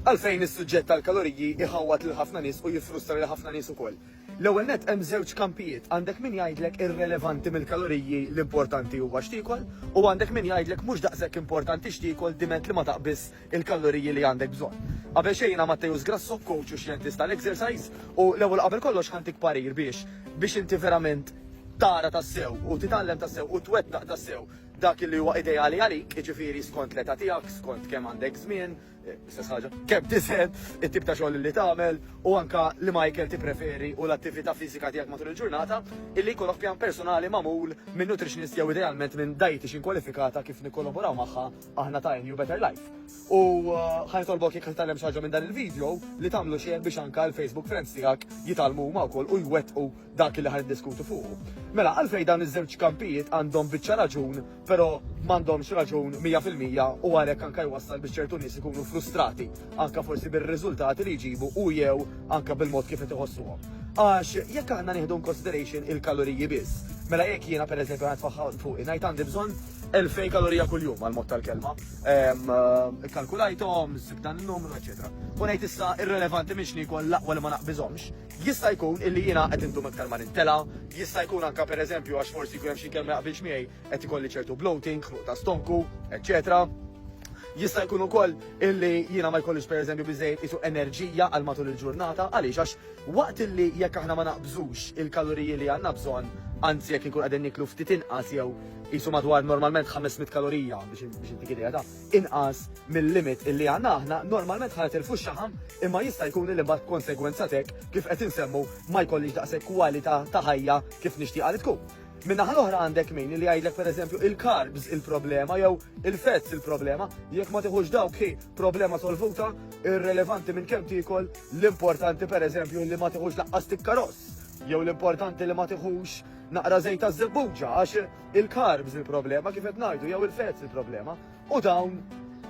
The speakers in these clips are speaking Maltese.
Għalfejn is-suġġett tal-kaloriji jħawwad lil ħafna nies u jiffrustra lil ħafna nies ukoll? L-ewwel nett hemm żewġ kampijiet, għandek min jgħidlek irrelevanti mill-kaloriji l-importanti huwa x'tiekol u għandek min jgħidlek mhux daqshekk importanti x'tiekol diment li ma taqbiżx il-kaloriji li għandek bżonn. Qabel xejn jiena Matteus Grasso, coach u xjentist tal-exercise u l-ewwel qabel kollox ħantik parir biex biex inti verament tara tassew u titgħallem tassew u twettaq tassew dak li huwa ideali għalik, jiġifieri skont l-età tiegħek, skont kemm għandek żmien, l-istess ħaġa, kemm tiżen, it-tip ta' xogħol li tagħmel u anke liema ikel tippreferi u l-attività fiżika tiegħek matul il-ġurnata, illi jkollok pjan personali magħmul minn nutritionist jew idealment minn dietician kwalifikata kif nikkolaboraw magħha aħna ta' NU Better Life. U ħa nitolbok jekk titgħallem xi ħaġa minn dan il-video li tagħmlu share biex anke l-Facebook friends tiegħek jitgħallmu huma wkoll u jwettqu dak li ħa niddiskutu fuqu. Mela, għalfejn dawn iż-żewġ kampijiet għandhom biċċa raġun, però m'għandhomx raġun mija fil-mija u għalhekk anke jwassal biex ċertu nies ikunu frustrati, anke forsi bir-riżultati li jġibu u jew anke bil-mod kif qed iħossuhom. Għax jekk aħna nieħdu in consideration il-kaloriji biss, mela jekk jiena pereżempju qed faħħa fuqi ngħid għandi bżonn 2000 kalorija kuljum għal mod tal-kelma. Ehm, eh, kalkulajthom, sib dan in-numru, eċetera. U ngħid issa irrelevanti minn x'nikol l-aqwa li ma naqbiżhomx, Jista' jkun illi jiena qed indum iktar ma nintela', jista' jkun anke pereżempju għax forsi jkun hemm xi mkien ma jaqbilx miegħi, qed ikolli ċertu bloating, ħnuq ta' stonku, eċċetera Jista' jkun ukoll illi jiena ma jkollix pereżempju biżejjed qisu enerġija għal matul il-ġurnata, għaliex għax waqt illi jekk aħna ma naqbżux il-kaloriji li għandna bżonn, anzi jekk inkunu qegħdin nieklu ftit inqas jew qisu madwar normalment 500 kalorija biex intik idea ta' inqas mil-limit illi għandna aħna, normalment ħa jitilfu x-xaħam imma jista' jkun illi mbagħad b'konsegwenza t'hekk kif qed insemmu ma jkollix daqshekk kwalità ta' ħajja kif nixtieqha li tkun. Min-naħa l-oħra għandek min li jgħidlek pereżempju il-carbs il-problema jew il-fats il-problema, jekk ma tiħux dawk hi problema solvuta, irrelevanti minn kemm tiekol, l-importanti pereżempju li ma tiħux laqqas tikkaross, jew l-importanti li ma tiħux naqra żejt taż-żebbuġa għax Il-carbs il-problema kif qed ngħidu jew il-fats il-problema u dawn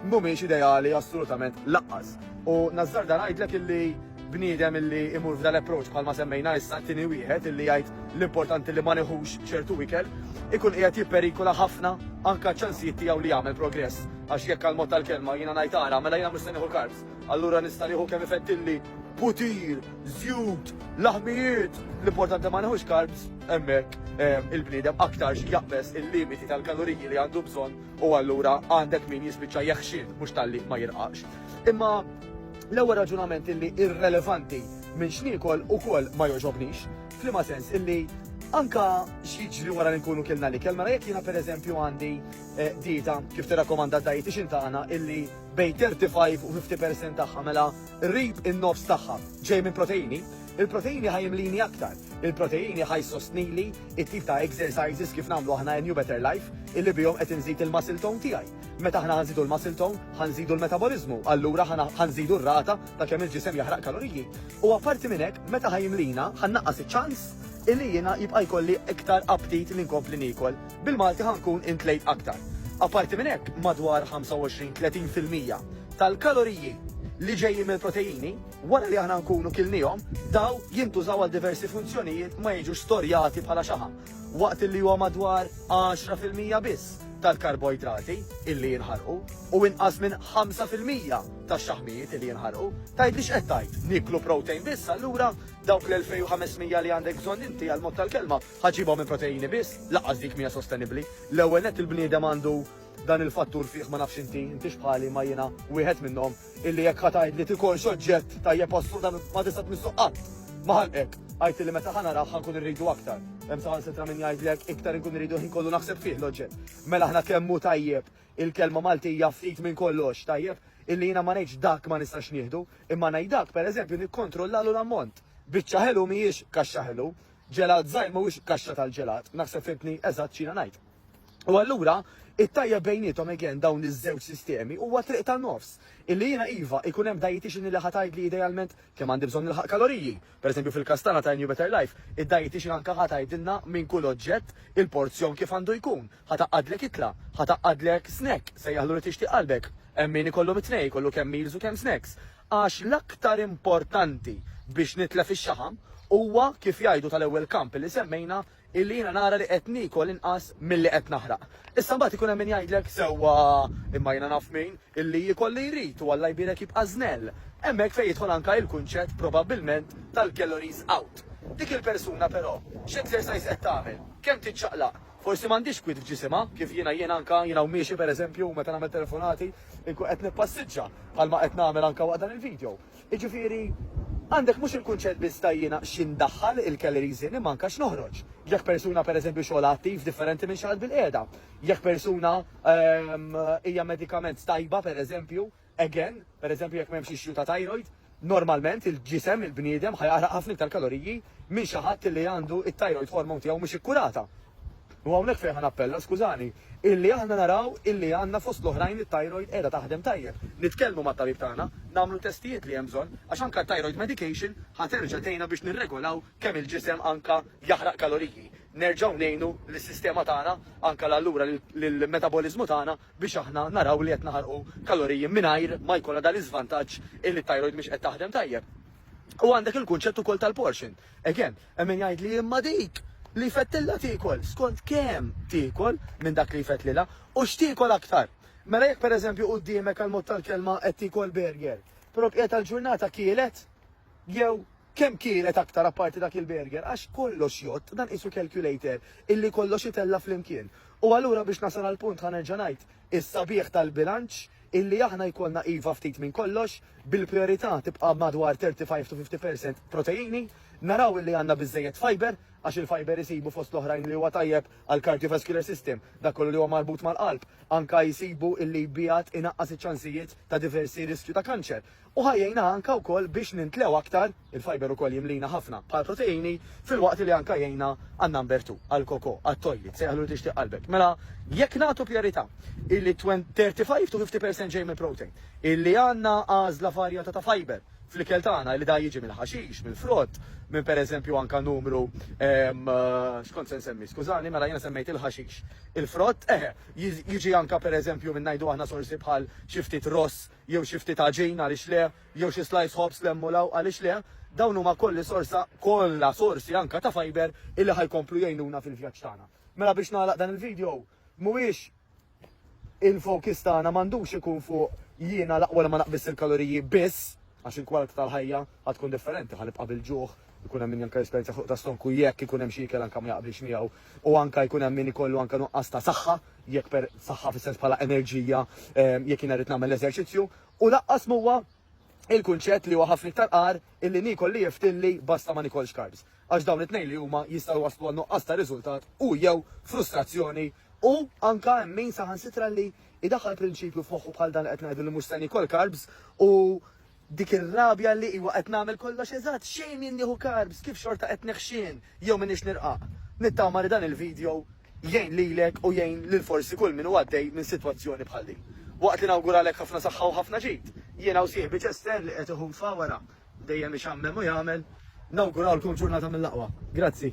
mhumiex ideali assolutament laqqas. U nażżarda ngħidlek illi bniedem illi imur f'dan l-approach bħalma semmejna issa tieni wieħed illi jgħid l-importanti li ma neħux ċertu ikel ikun qiegħed jipperikola ħafna anke ċ-ċansijiet tiegħu li jagħmel progress għax jekk għal mod tal-kelma jiena ngħid ara mela jiena mhux se nieħu carbs allura nista' nieħu kemm ifeddilli putir żjut, laħmijiet, l-importanti ma neħux carbs, hemmhekk il-bniedem aktarx jaqbeż il-limiti tal-kaloriji li għandu bżonn u allura għandek min jispiċċa jeħxin mhux talli ma jirqaqx. Imma l-ewwel raġunament illi irrelevanti minn x'niekol ukoll ma jogħġobnix, f'liema sens illi anka x'jiġri wara li nkunu kilna l-ikel, mela jekk jiena pereżempju għandi eh, dieta kif tirrakkomanda dietitian tagħna illi bejn 35 u 50% tagħha mela Rrid in-nofs tagħha ġej minn proteini, il-proteini ħa jimlini aktar, il-proteini ħa jsostnili t-tip ta' exercises kif nagħmlu aħna in New Better Life illi bihom qed inżid il-muscle tone tiegħi. Meta aħna ħa nżidu l-muscle tone, ħa nżidu l-metaboliżmu, allura ħa nżidu r-rata ta' kemm il-ġisem jaħraq kaloriji. U apparti minn hekk, meta ħa jimlina, ħa nnaqqas iċ-ċans illi jiena jibqa' jkolli iktar aptit li nkompli niekol. Bil-Malti ħa nkun intlejt aktar. Apparti minn hekk, madwar 25, 30 fil-mija tal-kaloriji li ġejjin mill-proteini, wara li aħna nkunu kilniehom, daw jintużaw għal diversi funzjonijiet ma jiġux storjati bħala xaħam, waqt illi huwa madwar 10 fil-mija biss tal-karboidrati illi jinħarqu u inqas minn 5 fil-mija tax-xaħmijiet illi jinħarqu. Tgħidli x'qed tgħid? Nieklu protein biss allura? Dawk l-2500 li għandek bżonn inti għall-mod tal-kelma Ħa ġġibha minn proteini biss? Lanqas dik m'hija sostenibbli. L-ewwel nett il-bniedem għandu dan il-fattur fih, ma nafx inti, intix bħali imma jiena wieħed minnhom, illi jekk ħa tgħidli ti kollx oġġett tajjeb assolutament ma tista' tmissu qatt. Ma ħanqek. Għidt illi meta ħa narah ħa nkun irridu aktar. Hemm saħansitra min jgħidli hekk, iktar inkun irridu l-ħin kollu naħseb fih l-oġġett. Mela aħna kemm hu tajjeb il-kelma Maltija ftit minn kollox, tajjeb, illi jiena ma ngħidx dak ma nistax nieħdu, imma ngħid dak, pereżempju, nikkontrollalu l-ammont. Biċċa ħelu m'hijiex kaxxa ħelu. Ġelat żgħir mhuwiex kaxxa tal-ġelat, naħseb fhimtni eżatt x'jiena ngħid. U allura, it-tajjeb bejniethom again dawn iż-żewġ sistemi huwa triq ta' nofs, illi jiena iva, ikun hemm dietician li ħa tgħidli idealment kemm għandi bżonn nilħaq kaloriji. Per eżempju fil-każ tagħna ta' A New Better Life, id-dietician anke ħa tgħidilna minn kull oġġett il-porzjon kif għandu jkun, ħa tgħaqqadlek ikla, ħa tgħaqqadlek snack, sejjaħlu li tixtieq qalbek. Hemm min ikollhom it-tnejn, ikollu kemm meals u kemm snacks. Għax l-aktar importanti biex nitlef ix-xaħam huwa, kif jgħidu tal-ewwel kamp li semmejna, illi jiena nara li qed niekol inqas milli qed naħraq. Issa mbagħad ikun hemm min jgħidlek, sewwa, imma jiena naf min, illi jiekol li jrid u Alla jbierek jibqa' żnell. Hemmhekk fejn jidħol anke il-kunċett probabbilment tal-calories out. Dik il-persuna però, x'exercise qed tagħmel, kemm tiċċaqlaq, Forsi m'għandhiex kwiet f'ġisimha, kif jiena jien anke, jiena u miexi per eżempju u meta nagħmel telefonati, inkun qed nippassiġġa, bħalma qed nagħmel anke waqt dan il-video. Jiġifieri, għandek mhux il-kunċett biss ta' jiena xi ndaħħal il-calories in imma anke x'noħroġ. Jekk persuna per eżempju xogħolha attiv differenti minn xi ħadd bilqiegħda. Jekk persuna hija medikament tajba per eżempju, Again, pereżempju jekk m'hemmx issue ta' thyroid, normalment il-ġisem, il-bniedem, ħa jaħraq ħafna iktar kaloriji minn xi ħadd li għandu t-thyroid hormone tiegħu mhux ikkurata. U hawnhekk fejn ħa nappella, skużani, illi aħna naraw illi għandna fost l-oħrajn it-thyroid qiegħda taħdem tajjeb. Nitkellmu mat-tabib tagħna, nagħmlu testijiet li hemm bżonn, għax anke t-thyroid medication ħa terġa' tgħinna biex nirregolaw kemm il-ġisem anke jaħraq kaloriji. Nerġgħu ngħinu lis-sistema tagħna, anke l-allura lill-metaboliżmu tagħna biex aħna naraw li qed naħarqu kaloriji mingħajr ma jkollna dan l-iżvantaġġ illi t-thyroid mhix qed taħdem tajjeb. U għandek il-kunċett ukoll tal-portion. Again, hemm min jgħidli imma dik li jfettilha tiekol skont kemm tiekol minn dak li jfettlilha u x'tiekol aktar. Mela jekk pereżempju quddiemek għal mod tal-kelma qed tiekol burger, però bqija tal-ġurnata kielet Jew kemm kielet aktar apparti dak il-burger għax kollox jgħodd, dan qisu calculator illi kollox itella' flimkien. U allura biex nasal għall-punt ħa nerġa' ngħid, is-sabiħ tal-bilanċ illi aħna jkollna iva ftit minn kollox, bil-prijorità tibqa' madwar 35 to 50 percent proteini, naraw illi għandna biżżejjed fiber, għax il-fiber isibu fost l-oħrajn li huwa tajjeb għall-cardiovascular system, dak kollu li huwa marbut mal-qalb, anke jsibu illi jbiegħed inaqqas iċ-ċansijiet ta' diversi riskju ta' kanċer. u ħa jgħinna anke wkoll biex nintlew aktar, il-fiber ukoll jimlina ħafna bħall-proteini, filwaqt li anke jgħinna għan-number two, għall-coco, għat-toilet, sejjaħlu li tixtieq qalbek. Mela, jekk nagħtu prijorità illi 35 to 50 percent ġej mill-protein, illi għandna għażla varjata ta' fiber, fl-ikel tagħna li da jiġi mill-ħaxix, mill-frott, minn pereżempju anka numru ehm, eh, xkont se nsemmi, skużani, mela jiena semmejt il-ħaxix. Il-frott, eh, jiġi anka pereżempju minn ngħidu aħna sorsi bħal xi ftit ross jew xi ftit għaġin għaliex le, jew xi slajs ħobż l-hemm u l-hawn għaliex le, dawn huma kolli sorsa, kollha sorsi anke ta' fiber illi ħa jkomplu jgħinuna fil-vjaġġ tagħna. Mela biex nagħlaq dan il-video, mhuwiex il-fokis tagħna m'għandux ikun fuq jiena l-aqwa li ma naqbis il-kaloriji biss, għax il-kwalità tal-ħajja għad tkun differenti, ħanibqa' bil-ġuħ, ikun hemm min janka esperjenza fuq ta' stonku jekk ikun hemm xi ikel anke ma jaqbilx miegħu u anke jkun hemm min ikollu anke nuqqas ta' saħħa jekk per saħħa fis-sens bħala enerġija jekk jiena rrid nagħmel l-eżerċizzju, u lanqas m'huwa il-kunċett li huwa ħafna iktar agħar illi niekol li jiftilli basta ma nikolx carbs, għax dawn it-tnejn li huma jistgħu jwasslu għal nuqqas ta' riżultat u jew frustrazzjoni u anke hemm min saħansitra li jdaħħal prinċipju f'moħħu bħal dan li qed ngħidu li mhux se niekol carbs u Dik ir-rabja li, iwa, qed nagħmel kollox eżatt, xejn min nieħu carbs, kif xorta qed neħxien jew m'iniex nirqaq? Nittama li dan il-video jgħin lilek u jgħin lil forsi kull min hu għaddej minn sitwazzjoni bħal din. Waqt li nawguralek ħafna saħħa u ħafna ġid, jiena u sieħbi Chester li qed iħum f'Għawara, dejjem ixammem u jagħmel, nawgurawlkom ġurnata mill-aqwa. Grazzi.